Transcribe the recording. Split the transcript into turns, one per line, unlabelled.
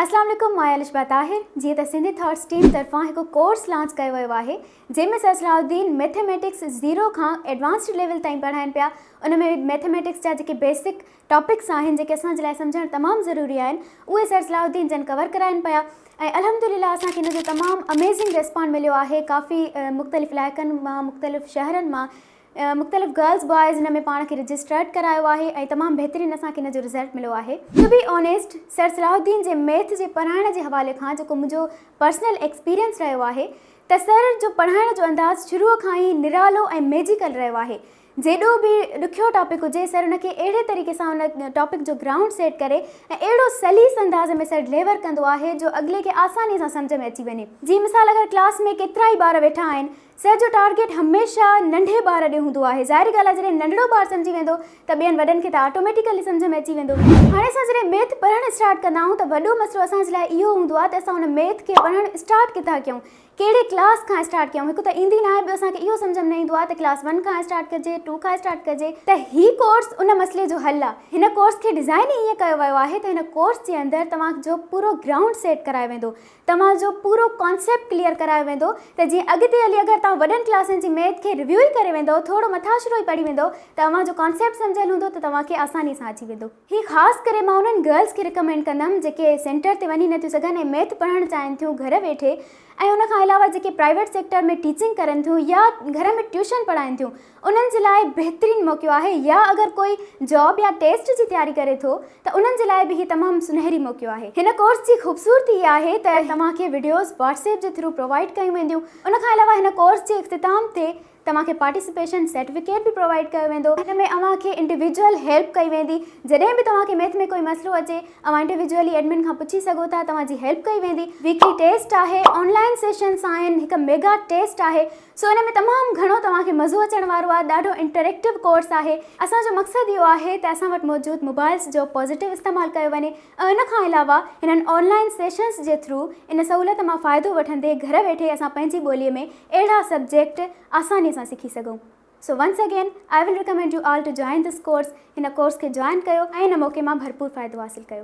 اسلام عليڪم مان الشبه طاهر جيئن ته سنڌي ٿاٽس ٽيم طرفان هڪ ڪورس لانچ ڪيو ويو آهي جنهن ۾ سر صلاح الدين ميٿيميٽڪس زيرو کان ايڊوانسڊ ليول تائين پڙهائين پيا ان ۾ ميٿيميٽڪس جا جيڪي بيسڪ ٽاپڪس آهن جيڪي اسان جي لاء سمجهڻ تمام ضروري آهن اهي سر صلاح الدين جن ڪور ڪرائين پيا ۽ الحمدلله اسان کي ان جو تمام اميزنگ ريسپانڊ مليو آهي ڪافي مختلف علائقن مان مختلف شهرن مان مختلف گرلز بوائز ان ۾ پاڻ کي رجسٽرڊ ڪرايو آهي ۽ تمام بهترين اسان کي ان جو رزلٽ مليو آهي. ٽو بي آنيسٽ سر صلاح الدين جي ميٿ جي پڙهائڻ جي حوالي کان جيڪو منهنجو پرسنل ايڪسپيرينس رهيو آهي ته سر جو پڙهائڻ جو انداز شروع کان ئي نرالو ۽ ميجيڪل رهيو آهي جيڏو به ڏکيو ٽاپڪ هجي سر ان کي اهڙي طريقي سان ان ٽاپڪ جو گرائونڊ سيٽ ڪري ۽ اهڙو سليس انداز ۾ سر ڊليور ڪندو آهي جو اڳلي کي آساني سان سمجهه ۾ اچي وڃي جي مثال اگر ڪلاس ۾ ڪيترائي ٻار ويٺا آهن سر جو ٽارگيٽ هميشه ننڍي ٻار ڏي هوندو آهي ظاهري ڳالهه آهي جڏهن ننڍڙو ٻار سمجهي ويندو ته ٻين وڏن کي ته آٽوميٽيڪلي سمجهه ۾ اچي ويندو هاڻي اسان جڏهن ميٿ پڙهڻ اسٽارٽ ڪندا آهيون ته وڏو مسئلو اسان جي لاء اهو هوندو آهي ته اسان ان ميٿ کي پڙهڻ اسٽارٽ ڪٿان ڪيون ڪهڙي ڪلاس کان اسٽارٽ ڪيون هڪ ته ايندي ناهي ٻيو اسان کي اهو سمجهه ۾ نه ايندو آهي ته ڪلاس ون کان اسٽارٽ ڪجي ٽو کان اسٽارٽ ڪجي ته هي ڪورس ان مسئلي جو حل آهي هن ڪورس کي ڊزائن ئي ائين ڪيو ويو آهي ته هن ڪورس جي اندر توهان جو پورو گرائونڊ سيٽ ڪرايو ويندو توهان جو پورو ڪانسيپٽ ڪليئر ڪرايو ويندو ته جيئن اڳتي هلي اگر توهان وڏن ڪلاسن جي ميٿ کي ريويو ئي ڪري ويندؤ ٿورو مٿاڇرو ئي پڙهي ويندؤ ته اوهان جو ڪانسيپٽ سمجهيل هوندو ته توهان کي آساني سان اچي ويندو. هي خاص ڪري مان انهن گرلز کي رڪمينڊ ڪندم جيڪي سينٽر تي وڃي نٿيون سگهن ۽ ميٿ پڙهڻ چاهين ٿيون گهر ويٺي ۽ ان کان علاوه جيڪي پرائيويٽ سيڪٽر ۾ ٽيچنگ ڪرن ٿيون يا گهر ۾ ٽيوشن پڙهائين ٿيون انهن جي لاء بهترين موقعو آهي يا اگر ڪوئي جاب يا ٽيسٽ جي تياري ڪري ٿو ته انهن جي لاء به هي تمام سنهري موقعو آهي. هن ڪورس جي خوبصورتي اها آهي ته توهان کي وڊيوز واٽس ايپ جي ٿرو پرووائيڊ ڪيون وينديون ان کان علاوه هن ڪورس جي اختتام تي توهان کي پارٽيسپيشن سرٽيفڪيٽ به پرووائيڊ ڪيو ويندو هن ۾ اوهان کي انڊيوڊيوئل هيلپ ڪئي ويندي جڏهن به توهان کي ميٿ ۾ ڪوئي مسئلو اچي اوهان انڊيوڊيوئلي ايڊمن کان پڇي سگهو ٿا توهان جي هيلپ ڪئي ويندي ويڪلي ٽيسٽ آهي آن لائن سيشنس آهن هڪ ميگا ٽيسٽ آهي. سو ان ۾ تمام گهڻو توهان کي مزو اچڻ وارو آهي ڏاڍو انٽريڪٽو ڪورس آهي اسان جو مقصد اهو آهي ته اسان وٽ موجود موبائلز جو پازيٽو استعمال ڪيو وڃي ۽ ان کان علاوه هنن آن لائين سيشنز جي ٿرو ان سهولت مان فائدو وٺندي گهر ويٺي اسان پنهنجي ٻولي ۾ اهڙا سبجيڪٽ آساني سان سکي سگهون so once again I will recommend you all to join this course هن ڪورس کي جوائن ڪيو ۽ هن موقعي مان ڀرپور فائدو حاصل ڪيو.